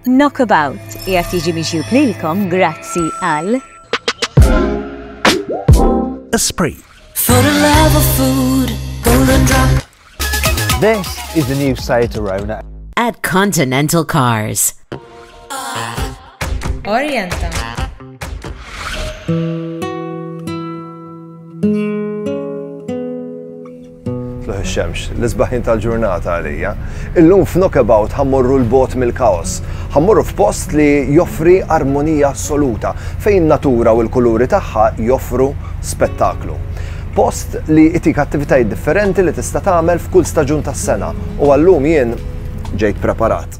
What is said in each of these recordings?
Knockabout qiegħed jiġi mixjub lilkom grazzi għal Esprit. For the love of food, golden drop. This is the new Seat Arona. At Continental Cars. Orienta. Tlugħ ix-xemx, l-isbaħin tal-ġurnata għalija. Illum f'Knockabout ħa mmorru 'l bogħod mill-kaos. Ħa mmorru f'post li joffri armonija assoluta, fejn in-natura u l-kuluri tagħha joffru spettaklu. Post li jtik attivitajiet differenti li tista' tagħmel f'kull staġun tas-sena u għal-lum jien ġejt preparat.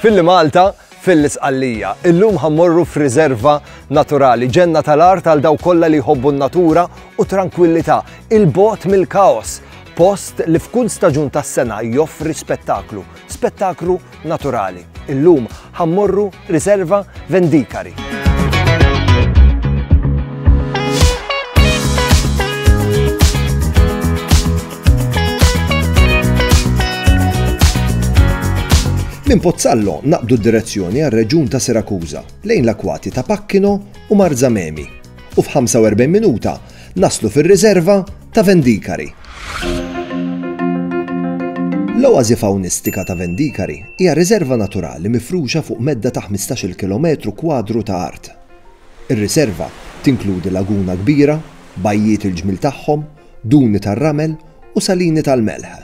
Filli Malta, fil-Isqallija. Illum ħammorru f'riserva naturali, ġenna tal-art għal daw kollha li jħobbu n-natura u tranquillità, il-bot mill-kaos, post li f'kull staġun tas-sena joffri spettaklu, spettaklu naturali. Illum ħammorru Riserva Vendicari. Minn Pozzallo naqbdu d-direzzjoni għal reġun ta' Sirakuża lejn l-akwati ta' Pakkino u Marzamemi u f'45 minuta Naslu fir-riserva ta' Vendikari. L-oasi fawnistika ta' Vendikari hija riserva naturali mifruxa fuq medda ta' ħmistax-il kilometru kwadru ta' art. Ir-riserva tinkludi laguna kbira, bajjiet il-ġmiel tagħhom, duni tar-ramel u salini tal-melħ.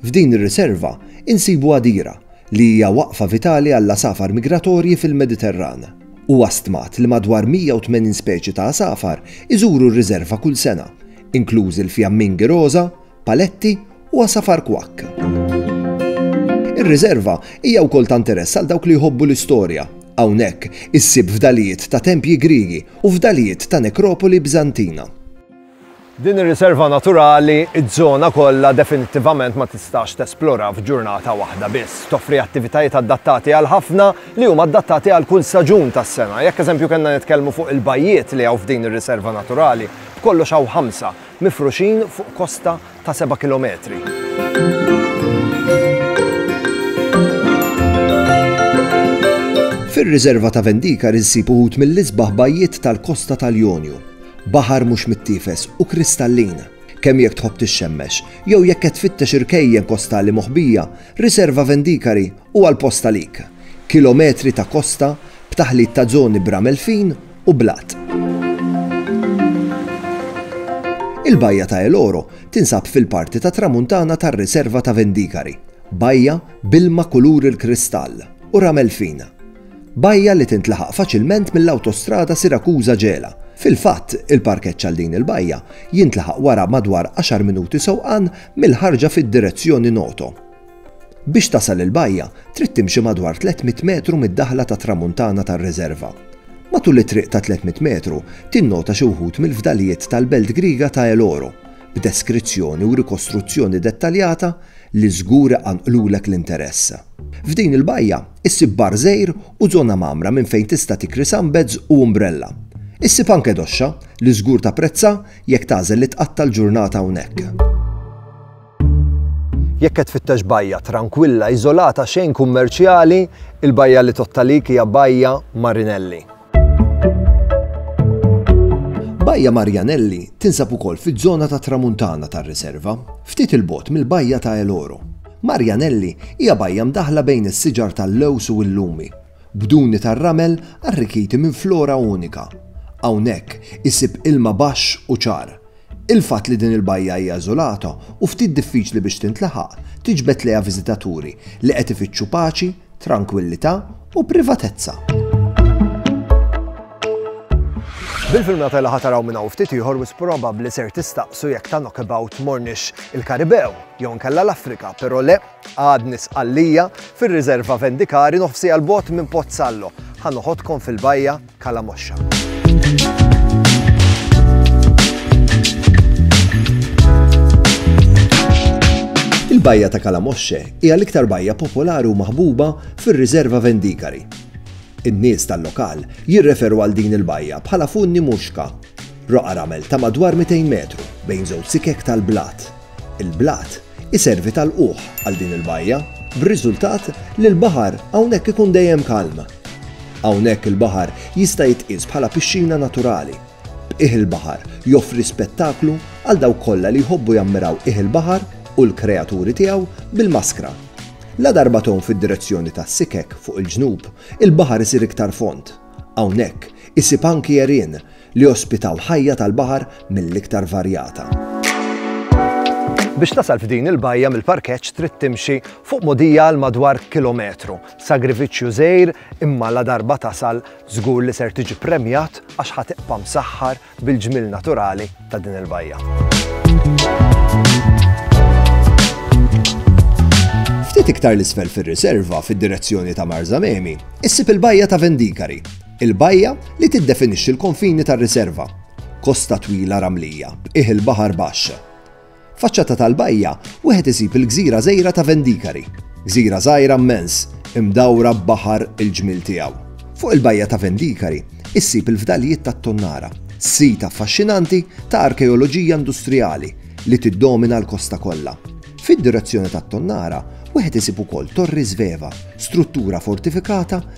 F'din ir-riserva insibu għadira li hija waqfa vitali għall-għasafar migratorji fil-Mediterran. Huwa stmat li madwar 180 speċi ta' għasafar iżuru r-riżerva kull sena, inklużi l-fjammingi roża, paletti u għasafar kwakk. Ir-riżerva hija wkoll ta' interess għal dawk li jħobbu l-istorja. Hawnhekk issib fdalijiet ta' tempji Griegi u fdalijiet ta' nekropoli Biżantina. Din ir-riserva naturali, ż-żona kollha definittivament ma tistax tesplora f'ġurnata waħda biss. Toffri attivitajiet adattati għal ħafna, li huma adattati għal kull staġun tas-sena. Jekk eżempju kellna nitkellmu fuq il-bajjiet li hawn f'din ir-riserva naturali, b'kollox hawn ħamsa, mifruxin fuq kosta ta' seba' kilometri. Fir-riżerva ta' Vendikar insib uħud mill-isbaħ bajjiet tal-kosta tal-Jonju. Baħar mhux mittiefes u kristallin. Kemm jekk tħobb tixxemmex, jew jekk qed tfittex irkejjen kostali moħbija, Riserva Vendikari huwa l-post għalik. Kilometri ta' kosta, b'taħlit ta' żoni b'ramel fin, u blat. Il-Bajja ta' El Oro tinsab fil-parti tat-Tramuntana tar-Riserva ta' Vendicari, bajja b'ilma kulur il-kristall u ramel fin. Bajja li tintlaħaq faċilment mill-awtostrada Sirakuża-Ġela. Fil-fatt, il-parkeġġ għal din il-bajja jintlaħaq wara madwar għaxar minuti sewqan mill-ħarġa fid-direzzjoni Noto. Biex tasal il-bajja, trid timxi madwar 300 metru mid-daħla tat-Tramuntana tar-riżerva. Matul it-triq ta' 300 metru, tinnota xi wħud mill-fdalijiet tal-belt Griega ta' El Oro, b'deskrizzjoni u rikostruzzjoni dettaljata li żgur iqanqlulek l-interess. F'din il-bajja, issib bar żgħir u żona mgħammra minn fejn tista' tikri sunbeds u umbrella. Issib anke doxxa, li żgur tapprezza jekk tagħżel li tqatta' l-ġurnata hawnhekk. Jekk qed tfittex bajja trankwilla iżolata xejn kummerċjali, il-bajja li tottalik hija Bajja Marinelli. Bajja Marianelli tinsab ukoll fiż-żona tat-Tramuntana tar-Riserva, ftit 'il bogħod mill-Bajja ta' El Oro. Marianelli hija bajja mdaħħla bejn is-siġar tal-lewż u l-lumi, b'duni tar-ramel arrikkiti minn flora unika. Hawnhekk isib ilma baxx u ċar, Il-fatt li din il-bajja hija eżolata u ftit diffiċli biex tintlaħaq, tiġbed lejha viżitaturi li qed ifittxu paċi, trankwillità u privatezza. Bil-filmjata li ħa taraw minn hawn ftit ieħor wisq probabbli ser tistaqsu jekk ta' knockabout morniex il-Karibew jew inkella l-Afrika, però le, Għadni Sqallija, fir-Riserva Vendikari, nofsiegħa 'l bogħod minn Pozzallo. Ħa noħodkom fil-bajja Kalamoxxa. Il-bajja ta' Kalamoxxe hija l-iktar bajja popolari u maħbuba fir-Riserva Vendikari. In-nies tal-lokal jirreferu għal din il-bajja bħala Funni Muxka, roqgħa ramel ta' madwar 200 metru bejn żewġ sikek tal-blat. Il-blat iservi ta' lqugħ għal din il-bajja, b'riżultat li l-baħar hawnhekk ikun dejjem kalm. Hawnhekk il-baħar jista' jitqies bħala pixxina naturali. B'qiegħ il-baħar joffri spettaklu għal dawk kollha li jħobbu jammiraw qiegħ il-baħar u l-kreaturi tiegħu bil-maskra. Ladarba tgħum fid-direzzjoni ta' Sikek fuq il-ġnub, il-baħar isir iktar fond. Hawnhekk isib anki għerien li ospitaw ħajja tal-baħar mill-iktar varjata. Biex tasal f'din il-bajja mill-parkeġġ trid timxi fuq mogħdija għal madwar kilometru. Sagrifiċċju żgħir imma ladarba tasal żgur li ser tiġi ppremjat għax ħa tibqa' msaħħar bil-ġmiel naturali ta' din il-bajja. Ftit iktar 'l isfel fir-riserva fid-direzzjoni ta' Marzamemi, issib il-bajja ta' Vendikari, Il-bajja li tiddefinixxi l-konfini tar-riserva. Kosta twila ramlija, b'qiegħ il-baħar baxx. Faċċata tal-bajja, wieħed isib il-gżira żgħira ta' Vendikari. Gżira żgħira mmens, imdawra b'baħar il-ġmiel tiegħu. Fuq il-bajja ta' Vendikari, issib il-fdalijiet tat-tonnara, sit affaxxinanti ta' arkeoloġija industrijali li tiddomina l-kosta kollha. Fid-direzzjoni tat-tonnara, wieħed isib ukoll Torri Sveva, struttura fortifikata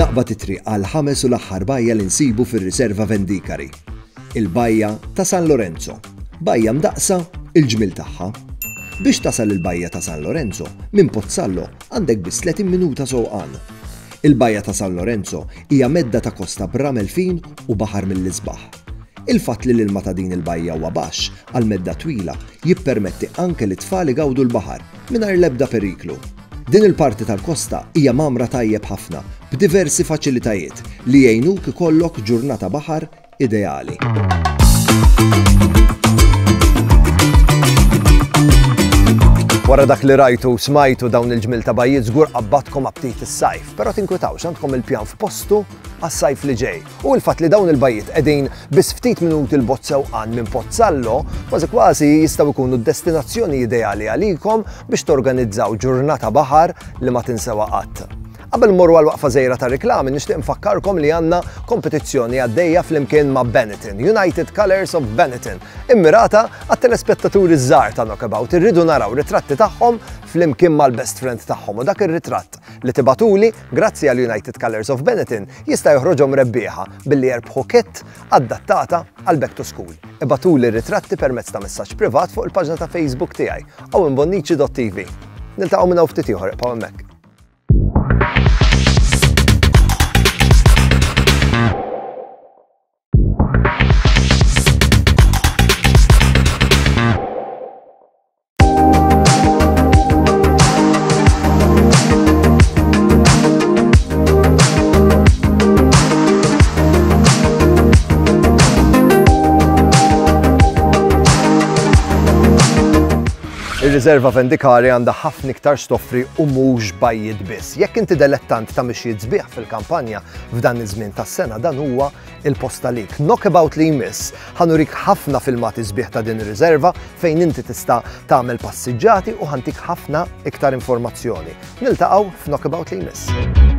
Naqbad it-triq għall-ħames u l-aħħar bajja li nsibu fir-Riserva Vendicari. Il-Bajja ta' San Lorenzo. Bajja mdaqqsa, il-ġmiel tagħha. Biex tasal il-Bajja ta' San Lorenzo, minn Pozzallo għandek biss 30 minuta sewqan. Il-Bajja ta' San Lorenzo hija medda ta' kosta b'ramel fin u baħar mill-isbaħ. Il-fatt li l-ilma ta' din il-bajja huwa baxx għal medda twila jippermetti anke lit-tfal igawdu l-baħar mingħajr l-ebda periklu. Din il-parti tal-kosta hija mgħammra tajjeb ħafna b'diversi faċilitajiet li jgħinuk ikollok ġurnata baħar ideali. Wara dak li rajtu smajtu dawn il-ġmil ta' bajjiet żgur qabbatkom aptit is-sajf, però tinkwitawx għandkom il-pjan f'postu għas-sajf li ġej. u l-fatt li dawn il-bajjiet qegħdin biss ftit minuti 'l bogħod sewqan minn Pozzallo, kważi kważi jistgħu jkunu d-destinazzjoni ideali għalikom biex torganizzaw ġurnata baħar li ma tinsewha qatt. Qabel mmorru għal waqfa żgħira ta' riklami nixtieq nfakkarkom li għandna kompetizzjoni għaddejja flimkien ma' Benetton, United Colours of Benetton, immirata għat-telespettaturi ż-żgħar ta' Knockabout irridu naraw ritratti tagħhom flimkien mal-best friend tagħhom u dak ir-ritratt li tibagħtuli Grazzi għal United Colours of Benetton jista' joħroġhom rebbieħa billi jerbħu kit adattata għal Back to School. Ibatuli r-ritratti permezz ta' messaġġ privat fuq il-paġna ta' Facebook tiegħi owenbonnici.tv. Niltaqgħu minn hawn ftit ieħor iqgħu hemmhekk. Ir-riserva vendikali għandha ħafna iktar stoffri u mhux bajjiet biss. Jekk inti delettant ta' mixjiet sbieħ fil-kampanja f'dan iż-żmien tas-sena dan huwa il-posta lik. Knockabout li jmiss ħanurik ħafna filmati sbieħ ta' din ir-riserva fejn inti tista' tagħmel passiġġati u ħantik ħafna iktar informazzjoni. Niltaqgħu f'Knockabout li jmiss.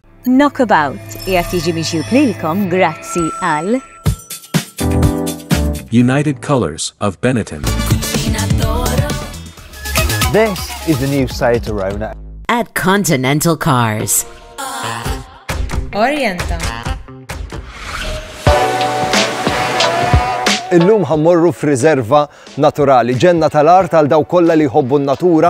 Knockabout qiegħed jiġi mixjub lilkom grazzi għal. United Colours of Benetton. This is the new Seat Arona. At Continental Cars. Orienta. Illum ħammorru f'riserva naturali, ġenna tal-art għal daw kollha li jħobbu n-natura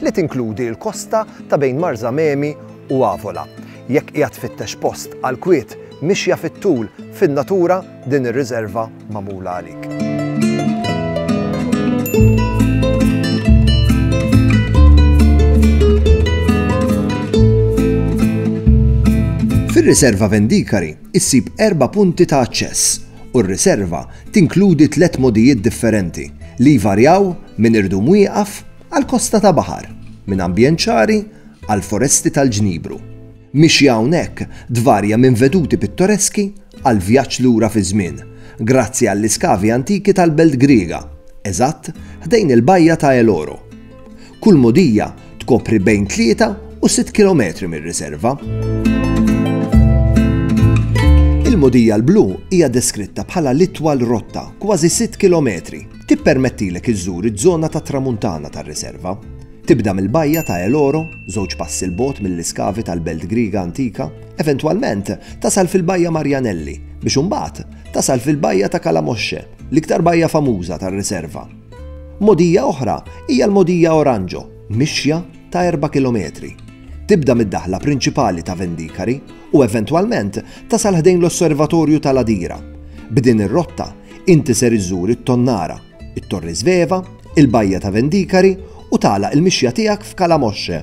li tinkludi l-kosta ta' bejn Marzamemi u Avola. Jekk qiegħed tfittex post għall-kwiet mixja fit-tul fin-natura, din ir-riżerva magħmula għalik. Fir-Riserva Vendikari issib erba' punti ta' aċċess u r-riserva tinkludi tliet modijiet differenti li jvarjaw minn irdum wieqaf għal kosta ta' baħar, minn ambjent ċari għal foresti tal-ġnibru. Mixja hawnhekk tvarja minn veduti pittoreski għal vjaġġ lura fiż-żmien, grazzi għall-iskavi antiki tal-belt Griega, eżatt ħdejn il-bajja ta' El Oro. Kull mogħdija tkopri bejn tlieta u sitt kilometri mir-riserva. Il-mogħdija l-blu hija deskritta bħala l-itwal rotta, kważi sitt kilometri, Tippermettilek iżżur iż-żona tat-Tramuntana tar-riserva. Tibda mill-bajja ta' El Oro, żewġ passi 'l bogħod mill-iskavi tal-belt Griega antika, eventwalment tasal fil-Bajja Marianelli biex imbagħad tasal fil-bajja ta' Calamoche, l-iktar bajja famuża tar-riserva. Mogħdija oħra hija l-Mogħdija Oranjo, mixja ta' erba' kilometri. Tibda mid-daħla prinċipali ta' Vendikari u eventwalment tasal ħdejn l-Osservatorju ta' Ladira. B'din ir-rotta, inti ser iżżur it-Tonnara, it-Torri Sveva, il-Bajja ta' Vendikari u tagħlaq il-mixja tiegħek f'Calamoche.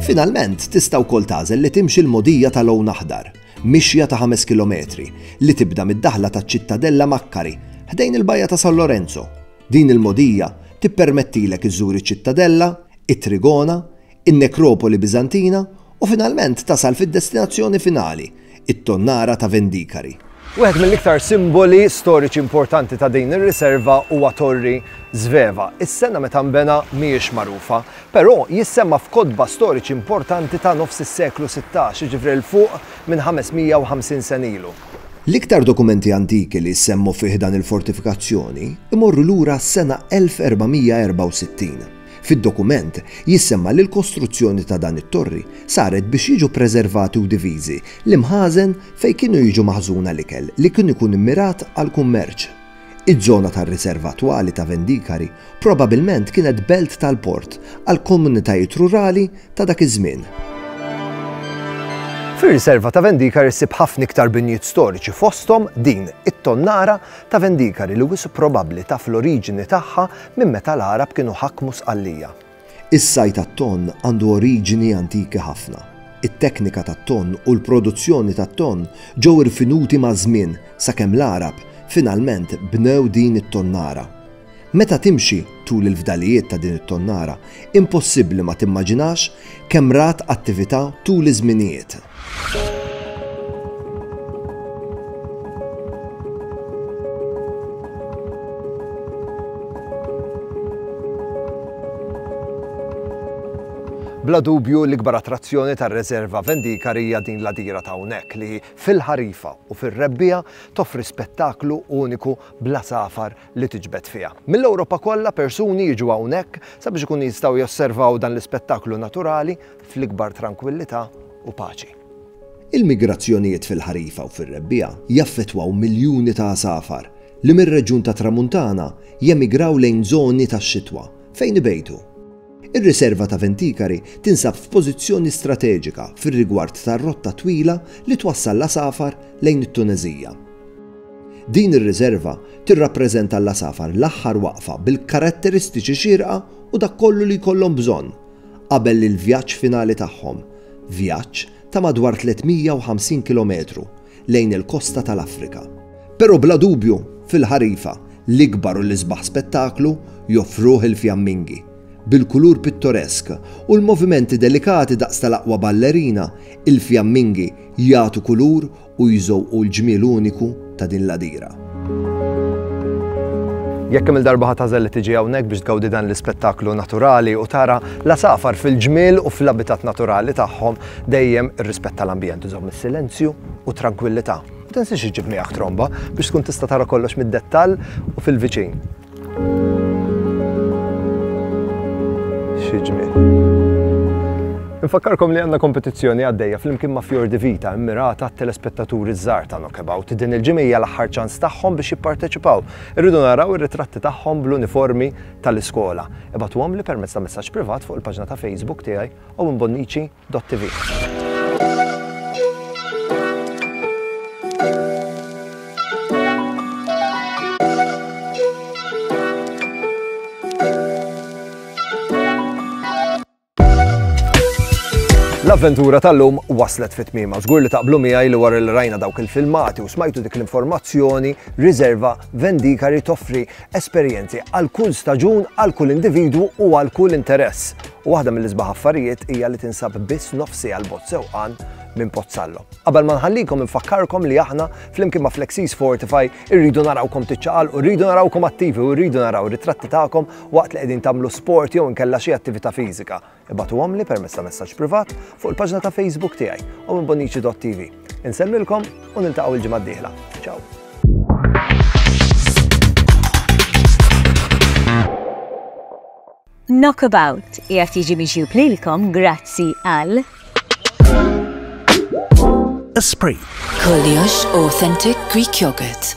Finalment, tista' wkoll tagħżel li timxi l-mogħdija ta' Lown Aħdar, mixja ta' 5 kilometri, li tibda mid-daħla taċ-Ċittadella Makkari, ħdejn il-Bajja ta' San Lorenzo. Din il-mogħdija tippermettilek iżżur iċ-Ċittadella, it-Trigona, in-nekropoli Biżantina u finalment tasal fid-destinazzjoni finali, it-tonnara ta' Vendikari. Wieħed mill-iktar simboli storiċi importanti ta' din ir-riserva huwa Torri Sveva. Is-sena meta nbena mhijiex magħrufa, però jissemma f'kotba storiċi importanti ta' nofs is-seklu sittax, jiġifieri 'l fuq minn 550 sen ilu. L-iktar dokumenti antiki li jsemmu fi ħdan il-fortifikazzjoni jmorru lura għas-sena 1464. Fid-dokument, jissemma li l-kostruzzjoni ta' dan it-torri saret biex jiġu ppreservati u diviżi l-imħażen fejn kienu jiġu maħżuna l-ikel li kien ikun immirat għall-kummerċ. Iż-żona tar-riserva attwali ta' Vendikari probabilment kienet belt tal-port għall-komunitajiet rurali ta' dak iż-żmien. Fir-riserva ta' Vendikari ssib ħafna iktar binjiet storiċi fosthom din it-tonnara ta' Vendikari li wisq probabbli taf l-oriġini tagħha Minn meta l-Għarab kienu ħakmu Sqallija. Is-sajd għat-tonn għandu oriġini antiki ħafna. It-teknika tat-tonn u l-produzzjoni tat-tonn ġew irfinuti maż-żmien sakemm l-Għarab finalment bnew din it-tonnara. Meta timxi tul il-fdalijiet ta' din it-tonnara, impossibbli ma timmaġinax Kemm rat attività tul iż-żminijiet? Bla dubju l-ikbar attrazzjoni tar-Reserva Vendikar hija din l-għadira ta' hawnhekk li fil-ħarifa u fir-rebbiegħa toffri spettaklu uniku bla safar li tiġbed fiha. Mill-Ewropa kollha persuni jiġu hawnhekk sabiex ikunu jistgħu josservaw dan l-ispettaklu naturali fl-ikbar trankwillità u paċi. Il-migrazzjonijiet fil-ħarifa u fir-rebbiegħa jaffettwaw miljuni ta' għasafar li mir-reġjun tat-Tramuntana jemigraw lejn żoni tax-xitwa fejn ibejtu. Ir-Riserva ta' Venticari tinsab f'pożizzjoni strateġika fir-rigward tar-rotta twila li twassal l-għasafar lejn it-Tuneżija. Din ir-riserva tirrappreżenta għall-għasafar l-aħħar waqfa bil-karatteristiċi xierqa u dak kollu li jkollhom bżonn qabel li l-vjaġġ finali tagħhom, vjaġġ ta' madwar 350 kilometru, lejn il-kosta tal-Afrika. Però bla dubju, fil-ħarifa, l-ikbar u l-isbaħ spettaklu joffruh il-fjammingi, bil-kulur pittoresk u l-movimenti delikati daqs tal-aqwa ballerina, il-fjammingi jagħtu kulur u jżewqu l-ġmiel uniku ta' din l-għadira. Jekk kemm-il darba ħadd għażel li tiġi hawnhekk biex tgawdi dan l-ispettaklu naturali u tara l-għasafar fil-ġmiel u fl-abitat naturali tagħhom, Dejjem irrispetta l-ambjent u żomm is-silenzju u t-trankwillità. Ma tinsiex iġġib miegħek tromba biex tkun tista' tara kollox mid-dettall u fil-viċin. Xi ġmiel! Infakkarkom li għandna kompetizzjoni għaddejja flimkien ma' Fiordi Vita immirata għat-telespettaturi ż-żgħar ta' Knockabout. Din il-ġimgħa hija l-aħħar ċans tagħhom biex jipparteċipaw. Irridu naraw ir-ritratti tagħhom bl-uniformi tal-iskola. Ibgħatuhomli permezz ta' messaġġ privat fuq il-paġna ta' Facebook tiegħi. u minn Bonnici.tv. L-avventura tal-lum waslet fit tmima Żgur li taqblu miegħi li wara li rajna dawk il-filmati u smajtu dik l-informazzjoni, riserva Vendikari toffri esperjenzi għal kull staġun, għal kull individwu u għal kull interess. U waħda mill-isbaħ affarijiet hija li tinsab biss nofsi għal bot sewqan minn Pozzallo. Qabel ma nħallikom infakkarkom li aħna flimkien ma' Flexis Fortify irridu narawkom tiċċaqal u rridu narawkom attivi u rridu naraw ritratti tagħkom waqt li qegħdin tagħmlu sport jew inkella xi attività fiżika. Ibagħtuhomli permezz ta' messaġġ privat fuq il-paġna ta' Facebook tiegħi u minn bonnici.tv. Insellmilkom u niltaqgħu l-ġimgħa d-dieħla. Ciao. Knockabout jgħat jiġi miġju plilkom grazzi għal Esprit. Koliox Authentic Greek Yogurt.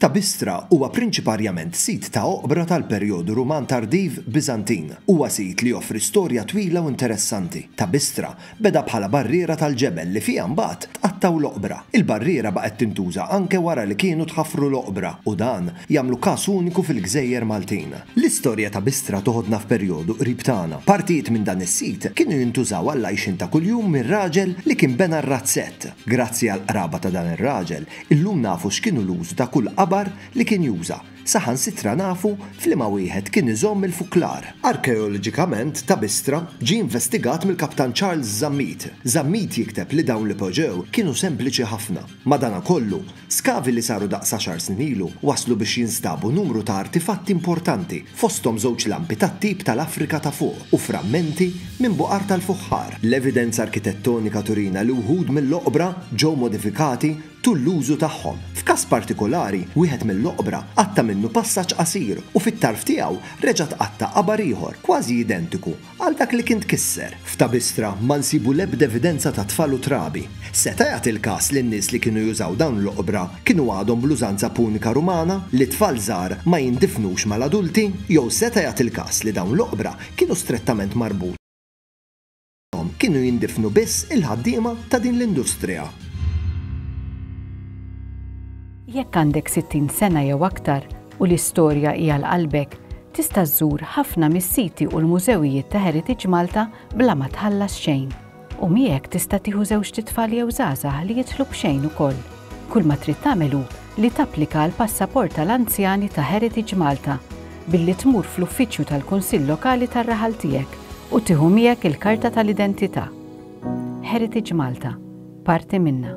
Ta' Bistra huwa prinċiparjament sit ta' oqbra tal-perjodu Ruman Tardiv Biżantin. Huwa sit li joffri storja twila u interessanti. Ta' Bistra beda bħala barriera tal-ġebel li fiha mbagħad tqattgħu l-oqbra. Il-barriera baqgħet tintuża anke wara li kienu tħaffru l-oqbra u dan jagħmlu każ uniku fil-gżejjer Maltin. L-istorja ta' Bistra toħodna f'perjodu qrib tagħna. Partijiet minn dan is-sit kienu jintużaw għall-għajxien ta' kuljum mir-raġel li kien bena r-razzett. Grazzi għall-qraba ta' dan ir-raġel, Illum nafu x'kienu l-użu ta' kull qabar li kien juża, saħansitra nafu f'liema wieħed kien iżomm il-fuklar. Arkeoloġikament ta' Bistra ġie investigat mill-Kaptan Charles Zammit. Zammit jikteb li dawn li poġġew kienu sempliċi ħafna. Madanakollu, skavi li saru daqs għaxar snin ilu wasslu biex jinstabu numru ta' artifatti importanti, fosthom żewġ lampi tat-tip tal-Afrika ta' Fuq u frammenti minn buqar tal-fuħħar. L-evidenza arkitettonika turina li wħud mill-oqbra ġew modifikati tul l-użu tagħhom. F'każ partikolari, wieħed mill-oqbra qatta' minnu passaġġ qasir u fit-tarf tiegħu reġa' tqatta' qabar ieħor kważi identiku, Għal dak li kien tkisser, f'Tabistra ma nsibu l-ebda evidenza ta' tfal u trabi. Seta' jagħti l-każ li n-nies li kienu jużaw dawn l-oqbra kienu għadhom bl-użanza punika Rumana li t-tfal żgħar ma jindifnux mal-adulti? Jew seta' jagħti l-każ li dawn l-oqbra kienu strettament marbuta fihom kienu jindifnu biss il-ħaddiema ta' din l-industrija? Jekk għandek 60 sena jew aktar, u li storja hi għal qalbek, tista' żżur ħafna mis-siti u l-mużewijiet ta' Heritage Malta bla ma tħallas xejn. U miegħek tista' tieħu żewġt itfal jew żgħażagħ li jidħlu b'xejn ukoll. Kull ma trid tagħmel hu li tapplika għall-passaport tal-anzjani ta' Heritage Malta billi tmur fl-uffiċċju tal-Kunsill Lokali tar-raħal tiegħek u tieħu miegħek il-karta tal-identità. Heritage Malta, parti minna.